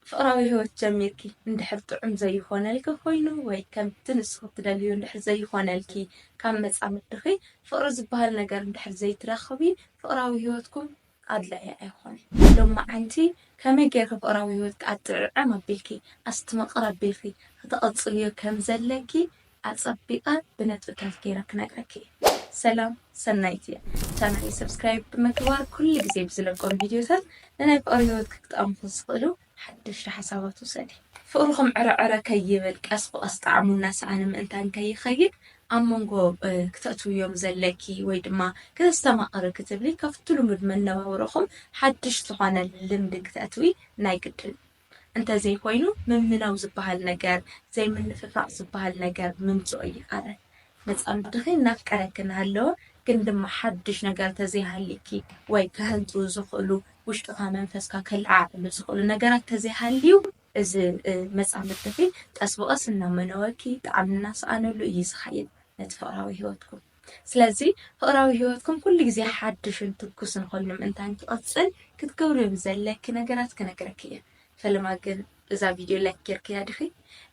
ፍቕራዊ ህይወት ጀሚርኪ እንድሕር ጥዑም ዘይኾነልኪ ኮይኑ ወይ ከምቲ ንስኺ እትደልይዮ እንድሕር ዘይኾነልኪ ካብ መጻምድኺ ፍቕሪ ዝበሃል ነገር እንድሕር ዘይትረኽቢ ፍቕራዊ ህይወትኩም ኣድላዪ ኣይኾነን። ሎማዓንቲ ከመይ ጌርኪ ፍቕራዊ ህይወትኪ ኣጥዕዕም ኣቢልኪ ኣስትምቕር ኣቢልኪ ከተቐጽልዮ ከምዘለኪ ኣጸቢቀ ብነጥብታት ገይረ ክነግረኪ እየ። ሰላም ሰናይት እየ ቻናለይ ሰብስክራይብ ብምግባር ኩሉ ግዜ ብዝለቆም ቪድዮታት ንናይ ፍቅሪ ሂወትኪ ክጠቅምኪ ዝክእሉ ሓደሽቲ ሓሳባት ውሰዲ። ፍቅርኩም ዕረ ዕረ ከይብል ቀስ ብቀስ ጣዕሙ እናሰኣነ ምእንታን ከይከይድ ኣብ መንጎ ክተእትውዮም ዘለኪ ወይ ድማ ክተስተማቅሪ ክትብሊ ካብቲ ልሙድ መነባብሮኩም ሓድሽ ዝኮነ ልምዲ ክተእትዊ ናይ ግድን እዩ። እንተዘይኮይኑ ምምናው ዝበሃል ነገር፣ ዘይምንፍፋቕ ዝበሃል ነገር ምምጽኦ ኣይከኣልን። መጻምድትኺ እናፍቀረኪ እናሃለወ ግን ድማ ሓድሽ ነገር ተዘይሃልዩኪ ወይ ከሀንጥዉ ዝኽእሉ ውሽጥኻ መንፈስካ ከለዓዕሉ ዝኽእሉ ነገራት ተዘይሃልዩ፣ እዚ መጻምድትኺ ቀስ ብቐስ እናመነወኪ ጣዕሚ እናሰኣነሉ እዩ ዝኸይድ ነቲ ፍቕራዊ ህይወትኩም። ስለዚ ፍቕራዊ ህይወትኩም ኩሉ ግዜ ሓድሽን ትኩስን ኮይኑ ምእንታን ክቕጽል ክትገብርዮ ብዘድልየኪ ነገራት ክነግረኪ እየ። ፈለማ ግን እዛ ቪድዮ ላይክ ጌርክያ ዲኺ?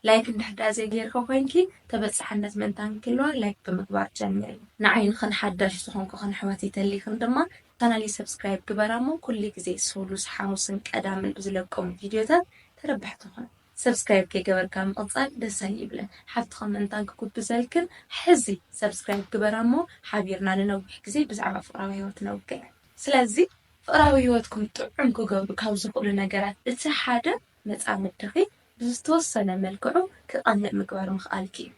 ላይክ እንድሕር ድኣ ዘይጌርኪ ኮይንኪ ተበጻሕነት ምእንታን ክህልዋ ላይክ ብምግባር ጀምሪ። ንዓይ ንኽን ሓዳሽ ዝኾንኩኽን ኣሕዋተይ ተሊኽን ድማ ቻናለይ ሰብስክራይብ ግበራ እሞ ኩሉ ግዜ ሶሉስ ሓሙስን ቀዳምን ብዝለቆም ቪድዮታት ተረባሕቲ ኩኑ። ሰብስክራይብ ከይገበርካ ምቅጻል ደስ ኣይብልን ሓፍትኺ ምእንታን ክጉብዘልክን ሕዚ ሰብስክራይብ ግበራ እሞ ሓቢርና ንነዊሕ ግዜ ብዛዕባ ፍቅራዊ ሂወት ነውግዕ ስለዚ ፍቅራዊ ሂወትኩም ጥዑም ክገብሩ ካብ ዝኽእሉ ነገራት እቲ ሓደ መጻምድኺ ብዝተወሰነ መልክዑ ክቀንእ ምግባር ምኽኣልኪ እዩ።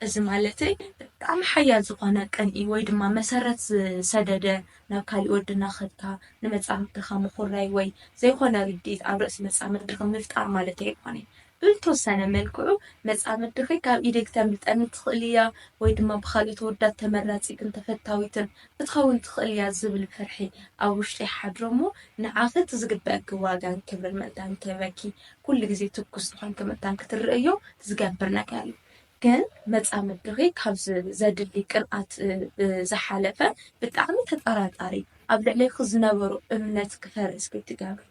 እዚ ማለተይ ብጣዕሚ ሓያል ዝኾነ ቅንኢ ወይ ድማ መሰረት ዝሰደደ ናብ ካሊእ ወዲ እናኸድካ ንመጻምድትኻ ምኹራይ ወይ ዘይኾነ ርድኢት ኣብ ርእሲ መጻምድትኺ ምፍጣር ማለተይ ኣይኮነይ። ብልተወሰነ መልክዑ መጻምድትኺ ካብ ኢደይ ክተምልጠኒ ትኽእል እያ ወይ ድማ ብኻልኦት ኣወዳት ተመራጺትን ተፈታዊትን ክትኸውን ትኽእል እያ ዝብል ፍርሒ ኣብ ውሽጢ ይሓድሮ እሞ ንዓኺ እቲ ዝግበኣኪ ዋጋን ክብርን ምእንታን ክህበኪ ኩሉ ግዜ ትኩስ ዝኾንኪ መታን ክትርእዮ ዝገብር ነገር እዩ። ግን መጻምድኺ ካብ ዘድሊ ቅንኣት ብዝሓለፈ ብጣዕሚ ተጠራጣሪ፣ ኣብ ልዕሌኺ ዝነበሮ እምነት ክፈርስ ክትገብሪ፣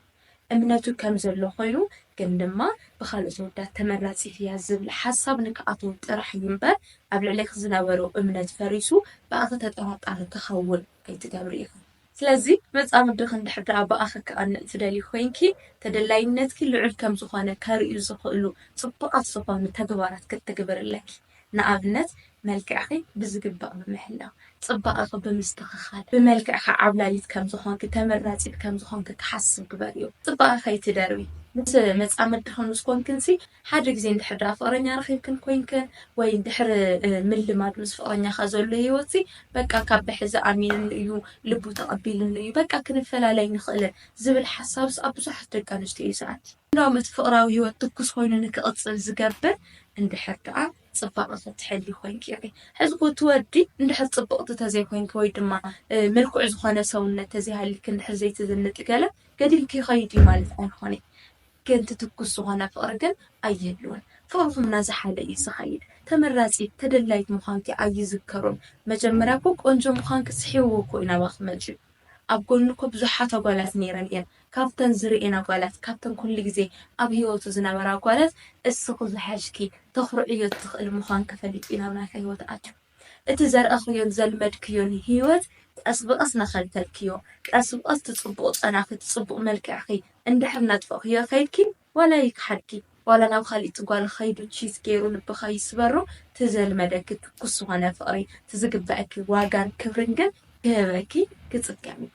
እምነቱ ከም ዘሎ ኮይኑ ግን ድማ ብኻልኦት ኣወዳት ተመራጺት እያ ዝብል ሓሳብ ንክኣትዎ ጥራሕ እዩ እምበር ኣብ ልዕሌኺ ዝነበሮ እምነት ፈሪሱ ብኣኺ ተጠራጣሪ ክኸውን ኣይትገብሪ ኢኺ። ስለዚ መጻምድኺ እንድሕር ደኣ ብኣኺ ክቐንእ ትደልዪ ኮይንኪ፣ ተደላይነትኪ ልዑል ከም ዝኾነ ከርእዩ ዝኽእሉ ጽቡቓት ዝኾኑ ተግባራት ክትትግብሪ ኣለኪ። ንኣብነት መልክዕኺ ብዝግባእ ምምሕላው፣ ጽባቐኺ ብምስትኽኻል፣ ብመልክዕኪ ዓብላሊት ከም ዝኾንኪ፣ ተመራጺት ከም ዝኾንኪ ክሓስብ ግበርዮ። ጽባቐ ከይትደርቢ ምስ መጻምድኺ ምስ ኮንክንሲ ሓደ ግዜ እንድሕር ደኣ ፍቕረኛ ረኺብክን ኮይንክን ወይ ድሕሪ ምልማድ ምስ ፍቕረኛኻ ዘሎ ህይወትሲ በቃ ካብ ብሕዚ ኣሚንሉ እዩ ልቡ ተቐቢልሉ እዩ በቃ ክንፈላለ ኣይንኽእልን ዝብል ሓሳብስ ኣብ ብዙሓት ደቂ ኣንስትዮ እዩ ዝኣቲ። እንዳውም እቲ ፍቕራዊ ህይወት ትኩስ ኮይኑ ንክቕጽል ዝገብር እንድሕር ደኣ ጽባቐኺ ትሕልዊ ኮይንኪ ኢኺ። ሕዚ እኮ እቲ ወዲ እንድሕር ጽብቕቲ ተዘይኮይንኪ ወይ ድማ ምልኩዕ ዝኾነ ሰውነት ተዘይሃልይኪ እንድሕር ዘይትዝንጢ ገለ ገዲልኪ ይኸይድ እዩ ማለት ኣይኮነይ። ገንቲ ትኩስ ዝኾነ ፍቕሪ ግን ኣይህልዎን ፍቕርኹም ናዛሓለ እዩ ዝኸይድ ተመራጺት ተደላይት ምዃንኪ ኣይዝከሮን መጀመርያ እኮ ቆንጆ ምዃንኪ ስሒብዎ እኮ እዩ ናባኺ መጺኡ ኣብ ጎኑ እኮ ብዙሓት ኣጓላት ነይረን እየን ካብተን ዝርእየን ኣጓላት ካብተን ኩሉ ግዜ ኣብ ሂወቱ ዝነበራ ኣጓላት እስኺ ዝሓሽኪ ተኹርዕዮ ትኽእሊ ምዃንኪ ፈሊጡ እዩ ናብ ናትኪ ሂወት ኣትዩ እቲ ዘርኣኽዮን ዘልመድክዮን ህይወት ቀስ ብቐስ ናኸልከልክዮ፣ ቀስ ብቐስ እቲ ጽቡቕ ጨናኺ፣ እቲ ጽቡቕ መልክዕኺ እንድሕር እናጥፈእኽዮ ከይድኪ፣ ዋላ ይክሓድኪ፣ ዋላ ናብ ኻልኢት ጓል ኸይዱ ቺስ ገይሩ ልብኺ ይስበሮ፣ እቲ ዘልመደኪ ትኩስ ዝኾነ ፍቕሪ፣ እቲ ዝግበኣኪ ዋጋን ክብርን ግን ክህበኪ ክጽገም እዩ።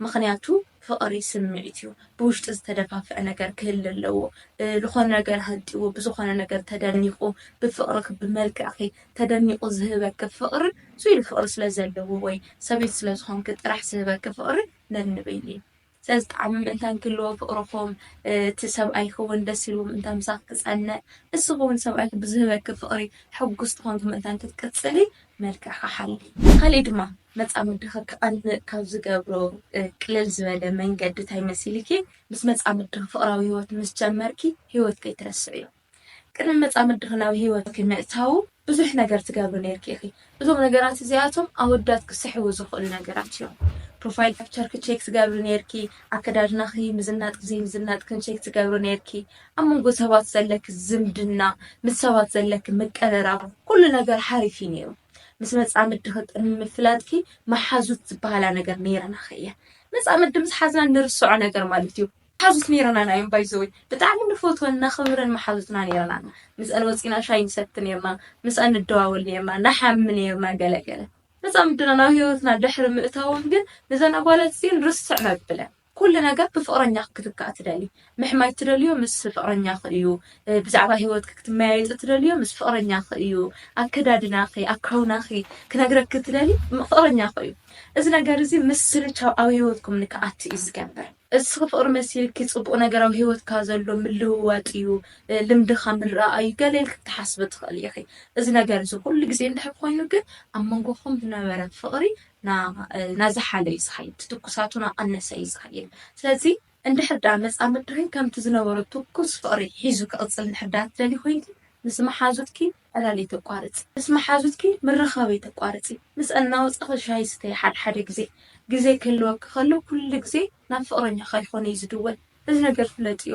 ምኽንያቱ ፍቕሪ ስምዒት እዩ ብውሽጢ ዝተደፋፍዐ ነገር ክህሊ ኣለዎ ልኾነ ነገር ሃንጥይዎ ብዝኾነ ነገር ተደኒቑ ብፍቕርኺ ብመልክዕኺ ተደኒቑ ዝህበኪ ፍቕሪ ዙይ ኢሉ ፍቕሪ ስለ ዘለዎ ወይ ሰበይቲ ስለ ዝኾንኪ ጥራሕ ዝህበኪ ፍቕሪ ነንበይኑ እዩ ስለዚ ጣዕሚ ምእንታን ክህልዎ ፍቕርኹም እቲ ሰብኣይኺ እውን ደስ ኢልዎ ምእንታን ምሳኺ ክፀንዕ ንስኺ እውን ሰብኣይኺ ብዝህበኪ ፍቕሪ ሕጉስቲ ኾንኪ ምእንታን ክትቅፅሊ መልክዕካ ሓሊ። ካሊእ ድማ መጻምድኺ ክቐንእ ካብ ዝገብሮ ቅልል ዝበለ መንገዲ ታይ መሲሊኪ ምስ መጻምድኺ ፍቕራዊ ሂወት ምስ ጀመርኪ ሂወት ከይትረስዕዮ። ቅድሚ መጻምድኺ ናብ ሂወትኪ ምእታዉ ብዙሕ ነገር ትገብሪ ኔርኪ ኢኺ። እዞም ነገራት እዚኣቶም ኣወዳት ክስሕቡ ዝኽእሉ ነገራት እዮም። ፕሮፋይል ፒክቸርኪ ቼክ ትገብሪ ኔርኪ፣ ኣከዳድናኺ፣ ምዝናጥኪ ዘይምዝናጥክን ቼክ ትገብሪ ኔርኪ፣ ኣብ መንጎ ሰባት ዘለኪ ዝምድና፣ ምስ ሰባት ዘለኪ ምቅርራብ፣ ኩሉ ነገር ሓሪፍ እዩ ነይሩ። ምስ መጻምድኺ ቅድሚ ምፍላጥኪ መሓዙት ዝበሃላ ነገር ነይረናኺ እየን። መጻምዲ ምስ ሓዝና እንርስዖ ነገር ማለት እዩ። መሓዙት ነይረናና እዮም ባይ ዘ ወይ። ብጣዕሚ ንፈትወን ነኽብረን መሓዙትና ነይረናና። ምስኣን ወጺና ሻሂ ንሰቲ ነይርና፣ ምስኣን ንደዋወል ነይርና፣ ንሓሚ ነይርና ገለ ገለ። መጻምድና ናብ ህይወትና ድሕሪ ምእታወን ግን ነዘን ኣጓላት እዚኤን ርስዕ መብለን። ኩሉ ነገር ብፍቕረኛኺ ክትካእ ትደልዪ። ምሕማይ እትደልዮ ምስ ፍቕረኛኺ እዩ። ብዛዕባ ህይወትኪ ክትመያየጢ እትደልዮ ምስ ፍቕረኛኺ እዩ። ኣከዳድናኺ፣ ኣካውናኺ ክነግረኪ እትደልዪ ፍቕረኛኺ እዩ። እዚ ነገር እዚ ምስልቻው ኣብ ህይወትኩም ንክኣቲ እዩ ዝገብር። እስኺ ፍቕሪ መሲልኪ ጽቡቕ ነገር ኣብ ህይወትካ ዘሎ ምልውዋጥ እዩ፣ ልምድኻ ምርኣይ እዩ ገለ ኢልኪ ክትሓስቢ ትኽእሊ ኢኺ። እዚ ነገር እዚ ኩሉ ግዜ እንድሕር ኮይኑ ግን ኣብ መንጎኹም ዝነበረ ፍቕሪ ናዝሓለ እዩ ዝኸይድ ትትኩሳቱ ናቀነሰ እዩ ዝኸይድ ስለዚ እንድሕር ድኣ መጻ ምድሪ ከምቲ ዝነበሮ ትኩስ ፍቅሪ ሒዙ ክቅጽል እንድሕር ድኣ ትደልዪ ኮይንኪ ምስ መሓዙትኪ ዕላልይ ተቋርጺ ምስ መሓዙትኪ ምርኻብይ ተቋርጺ ምስኣን ናወጻኺ ሻሂ ስተዪ ሓደ ሓደ ግዜ ግዜ ክህልወኪ ከሎ ኩሉ ግዜ ናብ ፍቅረኛኺ ኣይኾነይ ዝድወል እዚ ነገር ፍለጥዮ።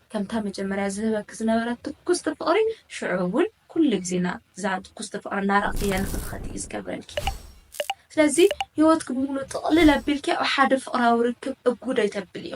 ከምታ መጀመርያ ዝህበኪ ዝነበረ ትኩስቲ ፍቕሪ ሽዑ እውን ኩሉ ግዜ እዛ ትኩስቲ ፍቕሪ እናረኣኽያ ንኽትኸድኢ እዩ ዝገብረልኪ። ስለዚ ህይወትኪ ብምሉእ ጥቕልል ኣቢልኪ ኣብ ሓደ ፍቕራዊ ርክብ እጉድ ኣይተብልዮ።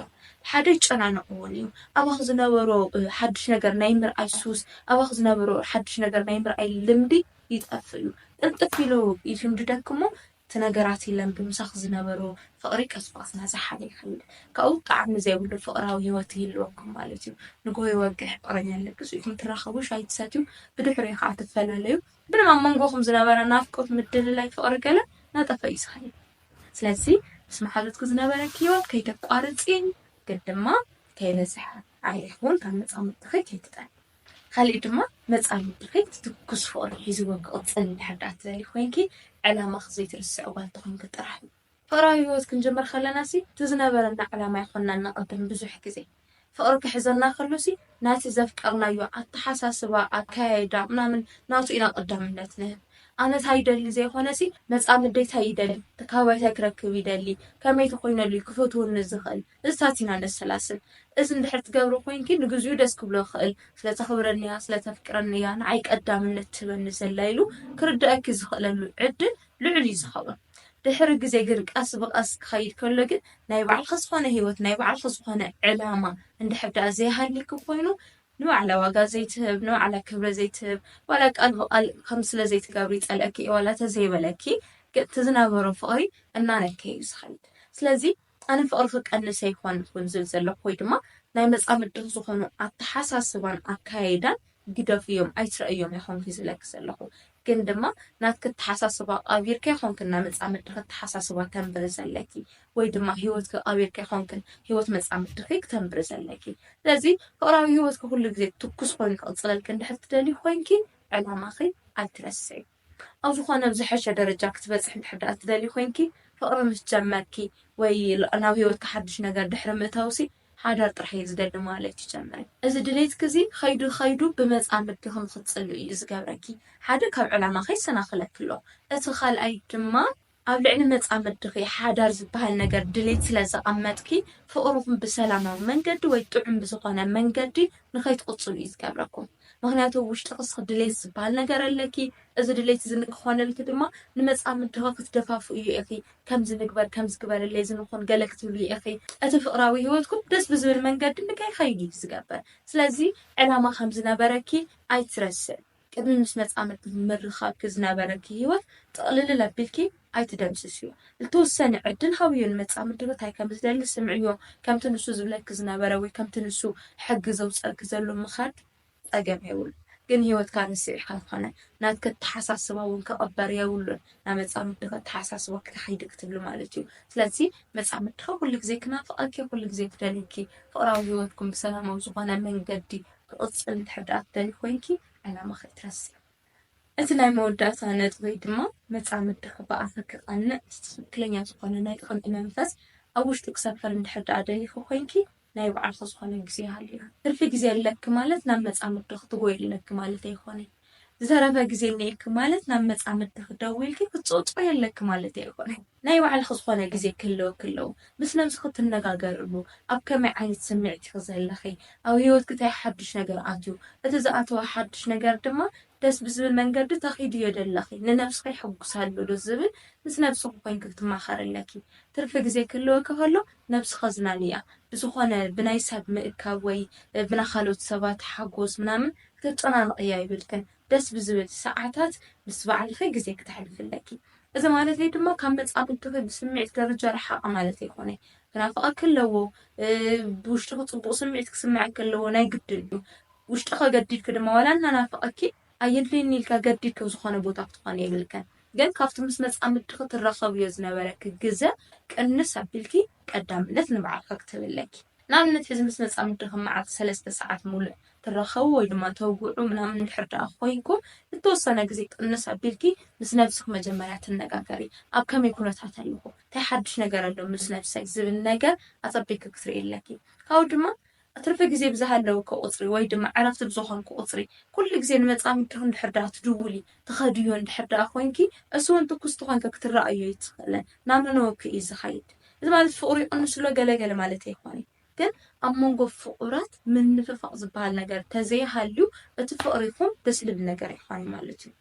ሓደ ይጨናነቕ እውን እዩ። ኣባኺ ዝነበሮ ሓድሽ ነገር ናይ ምርኣይ ሱስ፣ ኣባኺ ዝነበሮ ሓድሽ ነገር ናይ ምርኣይ ልምዲ ይጠፍእ እዩ። ቅልጥፍ ኢሉ ይሽምድደኪ እሞ እቲ ነገራት ይለን ብምሳኽ ዝነበሮ ፍቕሪ ቀስ ብቐስ እናዘሓለ ይኸይድ። ካብኡ ጣዕሚ ዘይብሉ ፍቕራዊ ህይወት ይህልወኩም ማለት እዩ። ንግሆ ይወግሕ፣ ፍቕረኛ ኣለግሱ ኢኹም ትራኸቡ፣ ሻሂ ትሰትዩ፣ ብድሕሪኡ ኸኣ ትፈላለዩ። ብንም ኣብ መንጎኹም ዝነበረ ናፍቆት፣ ምድልላይ፣ ፍቕሪ ገለ እናጠፍኣ እዩ ዝኸይድ። ስለዚ ምስ መሓዙትኪ ዝነበረኪ ህይወት ከይተቋርጺ ግን ድማ ከይበዝሐ ዓሌኹን ካብ መጻምድትኺ ከይትጠልሚ። ኻሊእ ድማ መጻኢ ውድኺ ትኩስ ፍቕሪ ሒዝዎ ክቕጽል እንድሕር ድኣ ትደልዪ ኮይንኪ ዕላማኺ ዘይትርስዒ ጓል ተኾይንኪ ጥራሕ እዩ። ፍቕራዊ ህይወት ክንጅምር ከለናሲ እቲ ዝነበረና ዕላማ ኣይኾንናን ነቐድም ብዙሕ ግዜ ፍቕሪ ክሕዘና ከሎሲ ናቲ ዘፍቀርናዮ ኣተሓሳስባ ኣከያይዳ ምናምን ናቱ ኢና ቐዳምነት ንህብ ኣነ ታይ ይደሊ ዘይኾነሲ መጻምደይ ታይ ይደሊ ተካባቢታይ ክረክብ ይደሊ ከመይ ተኾይነሉ እዩ ክፈትወኒ ዝኽእል እዝታት ኢና ነሰላስል። እዚ እንድሕር ትገብሮ ኮይንኪ ንግዚኡ ደስ ክብሎ ይኽእል። ስለ ተኽብረኒ እያ፣ ስለ ተፍቅረኒ እያ ንዓይ ቀዳምነት ትህበኒ ዘላ ኢሉ ክርድኣኪ ዝኽእለሉ ዕድል ልዑል እዩ ዝኸውን። ድሕሪ ግዜ ግን ቀስ ብቐስ ክኸይድ ከሎ ግን ናይ ባዕልኺ ዝኾነ ህይወት፣ ናይ ባዕልኺ ዝኾነ ዕላማ እንድሕር ደኣ ዘይሃልይኪ ኮይኑ ንባዕላ ዋጋ ዘይትህብ፣ ንባዕላ ክብረ ዘይትህብ፣ ዋላ ቃል ብቓል ከምዚ ስለ ዘይትገብሪ ይጸልኣኪ እየ ዋላ ተዘይበለኪ ግን እቲ ዝነበሮ ፍቕሪ እናነከየ እዩ ዝኸይድ። ስለዚ ኣነ ፍቕሪ ክቀንስ ኣይኮንኩን ዝብል ዘለኹ ወይ ድማ ናይ መጻምድቲ ዝኾኑ ኣተሓሳስባን ኣከያይዳን ግደፍዮም ኣይትረእዮም ኣይኮንኩይ ዝብለኪ ዘለኹ ግን ድማ ናትኪ ኣተሓሳስባ ቐቢርኪ ኣይኮንክን ናይ መጻምድትኺ ኣተሓሳስባ ተንብሪ ዘለኪ ወይ ድማ ሂወትኪ ቐቢርኪ ኣይኮንክን ሂወት መጻምድትኺ ክተንብሪ ዘለኪ ስለዚ ፍቕራዊ ሂወትኪ ኩሉ ግዜ ትኩስ ኮይኑ ክቕጽለልኪ እንድሕር ትደልዪ ኮንኪ ዕላማኺ ኣይትረስዒ። ኣብ ዝኾነ ኣብ ዝሐሸ ደረጃ ክትበጽሒ እንድሕር ደኣ ትደልዪ ኮይንኪ ፍቅሪ ምስ ጀመርኪ ወይ ናብ ሂወትኪ ሓድሽ ነገር ድሕሪ ምእታውሲ ሓዳር ጥራሕ እየ ዝደሊ ማለት እዩ ጀምሪ እዚ ድሌትኪ እዚ ከይዱ ከይዱ ብመጻምድትኺ ንኽትጽልእዩ ዝገብረኪ ሓደ ካብ ዕላማኺ የሰናኽለኪ ኣሎ እቲ ካልኣይ ድማ ኣብ ልዕሊ መጻምድኺ ሓዳር ዝበሃል ነገር ድሌት ስለ ዘቐመጥኪ፣ ፍቕርኹም ብሰላማዊ መንገዲ ወይ ጥዑም ብዝኾነ መንገዲ ንኸይትቕጽሉ እዩ ዝገብረኩም። ምኽንያቱ ኣብ ውሽጥኺ እስኺ ድሌት ዝበሃል ነገር ኣለኪ፣ እዚ ድሌት እዚ ንክኾነልኪ ድማ ንመጻምድኺ ክትደፋፍእዮ ኢኺ፣ ከምዚ ንግበር፣ ከምዚ ግበርለይ፣ እዚ ንኹን ገለ ክትብልዮ ኢኺ። እቲ ፍቕራዊ ህይወትኩም ደስ ብዝብል መንገዲ ንከይኸይድ እዩ ዝገብር። ስለዚ ዕላማ ከም ዝነበረኪ ኣይትረስዒ። ቅድሚ ምስ መጻምድትኪ ምርኻብኪ ዝነበረኪ ህይወት ጥቕልልል ኣቢልኪ ኣይትደምስስዮ። ልተወሰነ ዕድል ሃብዮ፣ ንመጻምድትኪ እንታይ ከም ዝደሊ ስምዕዮ፣ ከምቲ ንሱ ዝብለኪ ዝነበረ ወይ ከምቲ ንሱ ሕጊ ዘውጸልኪ ዘሎ ምኻድ ጸገም የብሉን። ግን ህይወትካ ንስዒ ከም ዝኾነ ናትኪ ኣተሓሳስባ እውን ክቕበር የብሉን። ናብ መጻምድትኪ ኣተሓሳስባ ክትሓይዲ ክትብሊ ማለት እዩ። ስለዚ መጻምድትኪ ኩሉ ግዜ ክናፍቐኪ ኩሉ ግዜ ክደልዩኪ ፍቕራዊ ህይወትኩም ብሰላማዊ ዝኾነ መንገዲ ክቕጽል እንድሕር ደኣ ትደልዪ ኮይንኪ ዕላማኺ ኣይትረስዒ። እቲ ናይ መወዳእታ ነጥበይ ድማ መጻምድኺ ብኣኺ ክቐንዕ እቲ ትኽክለኛ ዝኾነ ናይ ቅንኢ መንፈስ ኣብ ውሽጡ ክሰፍር እንድሕር ደኣ ደሊኺ ኮይንኪ ናይ ባዕልኺ ዝኾነ ግዜ ሃልዩኪ ትርፊ ግዜ ኣለኪ ማለት ናብ መጻምድኺ ትጎዪ ኣለኪ ማለት ኣይኮነን። ዝተረፈ ግዜ እኒኤኪ ማለት ናብ መጻምድትኺ ደዊልኪ ክትጽውጽዎዮ ኣለኪ ማለተይ ኣይኮነን። ናይ ባዕልኺ ዝኾነ ግዜ ክህልወኪ ኣለዎ። ምስ ነብስኺ ትነጋገርሉ፣ ኣብ ከመይ ዓይነት ስምዒት ኢኺ ዘለኺ፣ ኣብ ህይወትኪ ታይ ሓዱሽ ነገር ኣትዩ፣ እቲ ዝኣተወ ሓዱሽ ነገር ድማ ደስ ብዝብል መንገዲ ተኺድዮ ዶ ኣለኺ፣ ንነብስኺ የሕጉሳ ኣሎ ዶ ዝብል ምስ ነብስኺ ኮይንኪ ክትማኸሪ ኣለኪ። ትርፊ ግዜ ክህልወኪ ከሎ ነብስኺ ኣዝናንያ። ብዝኾነ ብናይ ሰብ ምእካብ ወይ ብናይ ካልኦት ሰባት ሓጎስ ምናምን ክተጨናንቕዮ ኣይብልክን፣ ደስ ብዝብል ሰዓታት ምስ ባዕልኺ ግዜ ክተሕልፊ ኣለኪ። እዚ ማለተይ ድማ ካብ መጻምድትኺ ብስምዒት ደረጃ ርሓቒ ማለት ኣይኮነይ። ክናፍቐኪ ኣለዎ፣ ብውሽጥኺ ጽቡቕ ስምዒት ክስምዐኪ ኣለዎ ናይ ግድን እዩ። ውሽጥኺ ኣገዲድኪ ድማ ዋላ እናናፈቐኪ ኣየድልየኒ ኢልኪ ኣገዲድኪ ኣብ ዝኾነ ቦታ ክትኾኒ የብልክን። ግን ካብቲ ምስ መጻምድትኺ ትራኸብዮ ዝነበረኪ ግዘ ቅንስ ኣቢልኪ ቀዳምነት ንባዕልኺ ክትህቢ ኣለኪ። ንኣብነት ሕዚ ምስ መጻምዲ ከም መዓልቲ ሰለስተ ሰዓት ምሉእ ትራኸቡ ወይ ድማ ተውግዑ ምናምን እንድሕር ደኣ ኮይንኩም ንተወሰነ ግዜ ቅንስ ኣቢልኪ ምስ ነብስኺ መጀመርያ ትነጋገሪ ኣብ ከመይ ኩነታት ኣለኹ ታይ ሓዱሽ ነገር ኣሎ ምስ ነብሰይ ዝብል ነገር ኣጸቢቅኪ ክትሪኢ ኣለኪ ካብኡ ድማ ትርፊ ግዜ ብዝሃለወኪ ቁጽሪ ወይ ድማ ዕረፍቲ ብዝኾንኪ ቁጽሪ ኩሉ ግዜ ንመጻምድኺ እንድሕር ደኣ ትድውሊ ትኸድዮ እንድሕር ደኣ ኮይንኪ እሱውን ትኩስቲ ኮይንኪ ክትረኣዮ ኣይትኽእልን ናነነወኪ እዩ ዝኸይድ እዚ ማለት ፍቕሩ ይቕንስ'ሎ ገለ ገለ ማለት ኣይኮነይ። ግን ኣብ መንጎ ፍቑራት ምንፍፋቕ ዝበሃል ነገር ተዘይሃልዩ እቲ ፍቕሪኹም ደስ ልብል ነገር ኣይኮነይ ማለት እዩ።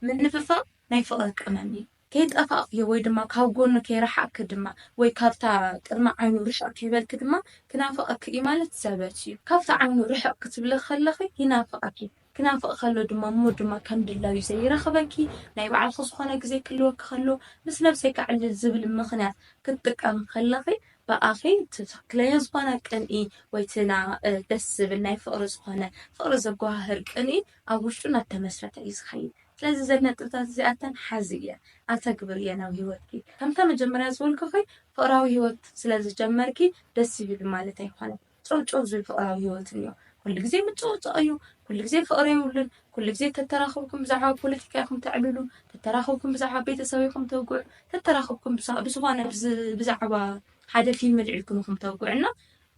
ምንፍፋቕ ናይ ፍቕሪ ቀመም እዩ። ከይጠፋእክዮ ወይ ድማ ካብ ጎኑ ከይረሓቕኪ ድማ ወይ ካብታ ቅድሚ ዓይኑ ርሽቕ ከይበልኪ ድማ ክናፍቐኪ እዩ ማለት ዘበት እዩ። ካብቲ ዓይኑ ርሕቕ ክትብሊ ከለኺ ይናፍቐኪ። ክናፍቕ ከሎ ድማ እሞ ድማ ከም ድላዩ ዘይረኽበኪ፣ ናይ ባዕልኺ ዝኾነ ግዜ ክህልወኪ ከሎ ምስ ነብሰይ ከዕልል ዝብል ምኽንያት ክትጥቀሚ ከለኺ ብኣኺ እቲ ትኽክለኛ ዝኾነ ቅንኢ ወይ እቲ ና ደስ ዝብል ናይ ፍቕሪ ዝኾነ ፍቕሪ ዘጎሃህር ቅንኢ ኣብ ውሽጡ እናተመስረተ እዩ ዝኸይድ። ስለዚ እዘን ነጥብታት እዚኣተን ሓዝየ፣ ኣተግብርየን ኣብ ህይወትኪ። ከምታ መጀመርያ ዝበልኩኺ ፍቕራዊ ህይወት ስለዝጀመርኪ ደስ ይብል ማለት ኣይኮነን። ጨውጨው ዝብል ፍቕራዊ ህይወት እንዮ። ኩሉ ግዜ ምጭቕጭቕ እዩ፣ ኩሉ ግዜ ፍቕሪ የብሉን፣ ኩሉ ግዜ ተተራኽብኩም ብዛዕባ ፖለቲካ ኢኹም ተዕልሉ፣ ተተራኽብኩም ብዛዕባ ቤተሰብ ኢኹም ተውግዑ፣ ተተራኽብኩም ብዝኾነ ብዛዕባ ሓደ ፊልም ኣልዒልኩም ኢኹም ተውግዑ እና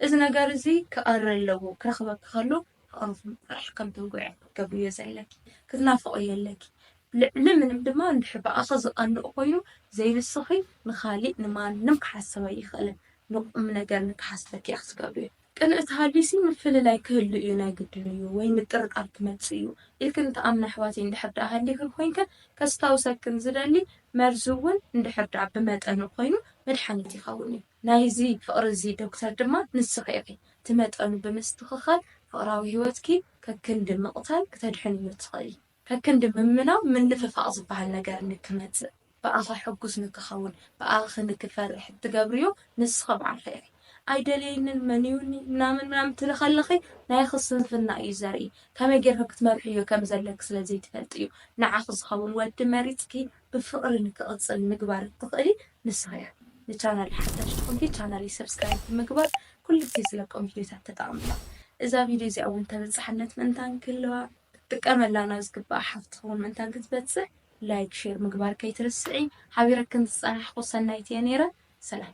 እዚ ነገር እዚ ክቐሪ ኣለዎ፣ ክረኽበኪ ከሎ ኦሮፍም ጥራሕ ከም ትንጉዒ ክትገብርዮ ዘለኪ ክትናፍቕዮ ኣለኪ ልዕሊ ምንም ድማ እንድሕር ብኣኺ ዝቐንእ ኮይኑ ዘይንስኺ ንኻሊእ ንማንም ክሓስብ ኣይኽእልን ንቑምነገር ንክሓስበኪ ኢኺ ትገብርዮ ቅንእት ሃልዩሲ ምፍልላይ ክህሉ እዩ ናይ ግድን እዩ ወይ ምጥርጣር ክመጽእ እዩ ኢልክን ትኣምና ኣሕዋተይ እንድሕር ድኣ ሃሊኽን ኮይንክን ከስታውሰክን ዝደሊ መርዚ እውን እንድሕር ድኣ ብመጠኑ ኮይኑ መድሓኒት ይኸውን እዩ ናይዚ ፍቕሪ እዚ ዶክተር ድማ ንስኺ ኢኺ። እቲ መጠኑ ብምስትኽኻል ፍቕራዊ ህይወትኪ ከክንዲ ምቕታል ክተድሕንዮ እትኽእሊ። ከክንዲ ምምናው ምንፍፋቕ ዝበሃል ነገር ንክመጽእ፣ ብኣኻ ሕጉስ ንክኸውን፣ ብኣኺ ንክፈርሕ እትገብርዮ ንስኺ ባዕልኺ ኢኺ። ኣይደልየንን፣ መንዩኒ፣ ምናምን ምናምን ትብሊ ከለኺ ናይኺ ስንፍና እዩ ዘርኢ። ከመይ ጌርኪ ክትመርሕዮ ከም ዘለኪ ስለ ዘይትፈልጢ እዩ። ንዓኺ ዝኸውን ወዲ መሪጽኪ ብፍቅሪ ንክቅጽል ምግባር እትክእሊ ንስኪ ኢኪ ንቻናለይ ሓዳሽ ዝኮንኪ ቻናለይ ሰብስክራይብ ብምግባር ኩሉግዜ ዝለቆም ቪድዮታት ተጠቀምላ እዛ ቪድዮ እዚኣ ውን ተበጻሕነት ምእንታን ክህልዋ ክትጥቀመላ ናብ ዝግባኣ ሓፍትኪ ውን ምእንታን ክትበጽሕ ላይክ ሼር ምግባር ከይትርስዒ ሓቢረክን ዝጸናሕኩ ሰናይት ኢየ ኔረ ሰላም።